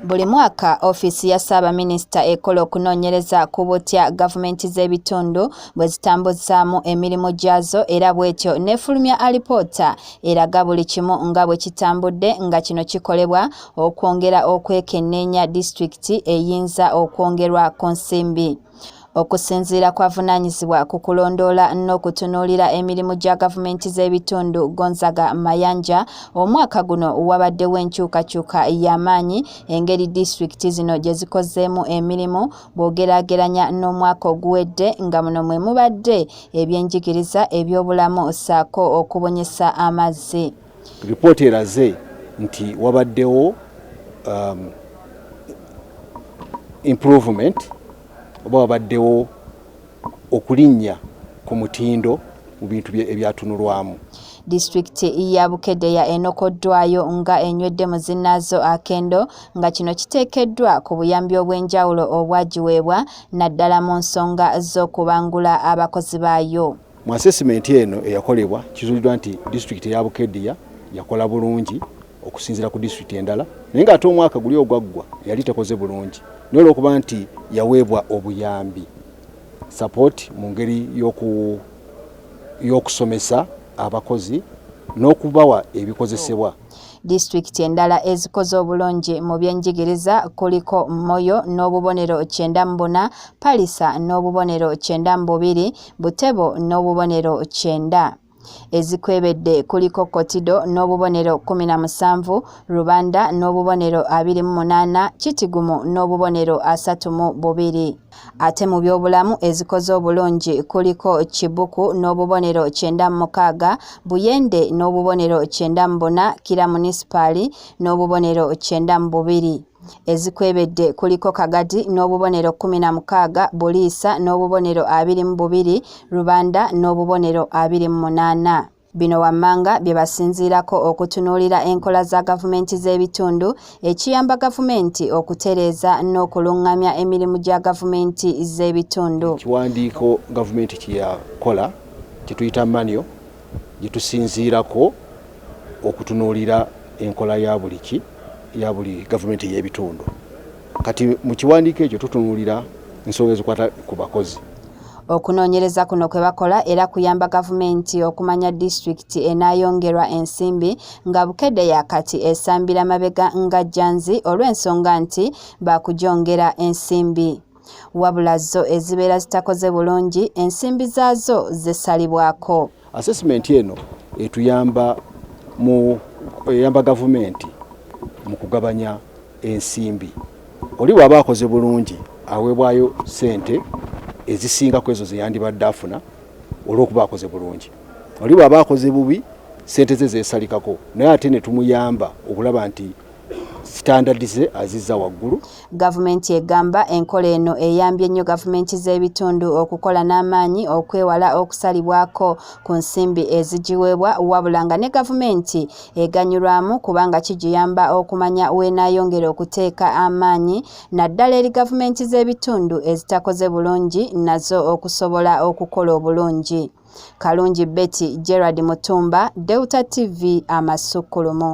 Buli mwaka ofiisi ya ssaabaminisita ekola okunoonyereza ku butya gavumenti z'ebitundu bwe zitambuzaamu emirimu gyazo era bw'etyo n'efulumya alipoota eraga buli kimu nga bwe kitambudde nga kino kikolebwa okwongera okwekenneenya disitulikiti eyinza okwongerwa ku nsimbi. okusinziira kwavunaanyizibwa ku kulondoola n'okutunuulira emirimu gya gavumenti z'ebitundu gonzaga mayanja omwaka guno wabaddewo enkyukakyuka y'amaanyi engeri disitulikiti zino gye zikozeemu emirimu bw'ogeraageranya n'omwaka oguwedde nga muno mwe mubadde ebyenjigiriza ebyobulamu ssaako okubunyisa amazzi Ripooti eraze nti wabaddewo um, improvement oba wabaddewo okulinnya ku mutindo mu bintu ebyatunulwamu disitulikiti ya bukedea enokoddwayo nga enywedde mu zinaazo akendo nga kino kiteekeddwa ku buyambi obw'enjawulo obwagiweebwa naddala mu nsonga z'okubangula abakozi baayo Mu asesimenti eno eyakolebwa kizuuliddwa nti disitulikiti eya Bukediya yakola bulungi okusinzira ku disitulikiti endala naye ng'ate omwaka guli ogwaggwa yali tekoze bulungi naye olw'okuba nti yaweebwa obuyambi sapooti mu ngeri y'okusomesa abakozi n'okubawa ebikozesebwa Disitulikiti endala ezikoze obulungi mu byenjigiriza kuliko Moyo n'obubonero kyenda mu buna, Palisa n'obubonero kyenda mu bubiri, Butebo n'obubonero kyenda. Ezikwebedde kuliko Kotido n'obubonero kumi na musanvu, Rubanda n'obubonero abiri mu munaana, Kitigumu n'obubonero asatu mu bubiri. Ate mu byobulamu ezikoze obulungi kuliko Kibuku n'obubonero kyenda mu mukaaga, Buyende n'obubonero kyenda mu buna, Kira munisipaali n'obubonero kyenda mu bubiri. Ezikwebedde kuliko Kagadi n'obubonero kkumi na mukaaga, Buliisa n'obubonero abiri mu bubiri, Rubanda n'obubonero abiri mu munaana. Bino wammanga bye basinziirako okutunuulira enkola za gavumenti z'ebitundu ekiyamba gavumenti okutereeza n'okulungamya emirimu gya gavumenti z'ebitundu. Ekiwandiiko gavumenti kye yakola kye tuyita manyo gye tusinziirako okutunuulira enkola ya buli ki ya buli gavumenti ey'ebitundu. Kati mu kiwandiiko ekyo tutunuulira ensonga ezikwata ku bakozi. Okunoonyereza kuno kwe bakola era kuyamba gavumenti okumanya disitulikiti enaayongerwa ensimbi nga Bukedde ya kati esambira mabega nga Janzi olw'ensonga nti baakugyongera ensimbi. Wabula zo ezibeera zitakoze bulungi ensimbi zaazo zesalibwako. Assessment eno etuyamba mu eyamba gavumenti mu kugabanya ensimbi. Oli bw'aba akoze bulungi aweebwayo ssente ezisinga ku ezo ze yandibadde afuna olw'okuba akoze bulungi. Oli bw'aba akoze bubi ssente ze zeesalikako naye ate ne tumuyamba okulaba nti sitandadi ze azizza waggulu. Gavumenti egamba enkola eno eyambye nnyo gavumenti z'ebitundu okukola n'amaanyi okwewala okusalibwako ku nsimbi ezigiweebwa wabula nga ne gavumenti eganyulwamu kubanga kigiyamba okumanya w'enaayongera okuteeka amaanyi naddala eri gavumenti z'ebitundu ezitakoze bulungi nazo okusobola okukola obulungi. Kalungi Betty, Gerald Mutumba, Delta TV, Amasukkulumu.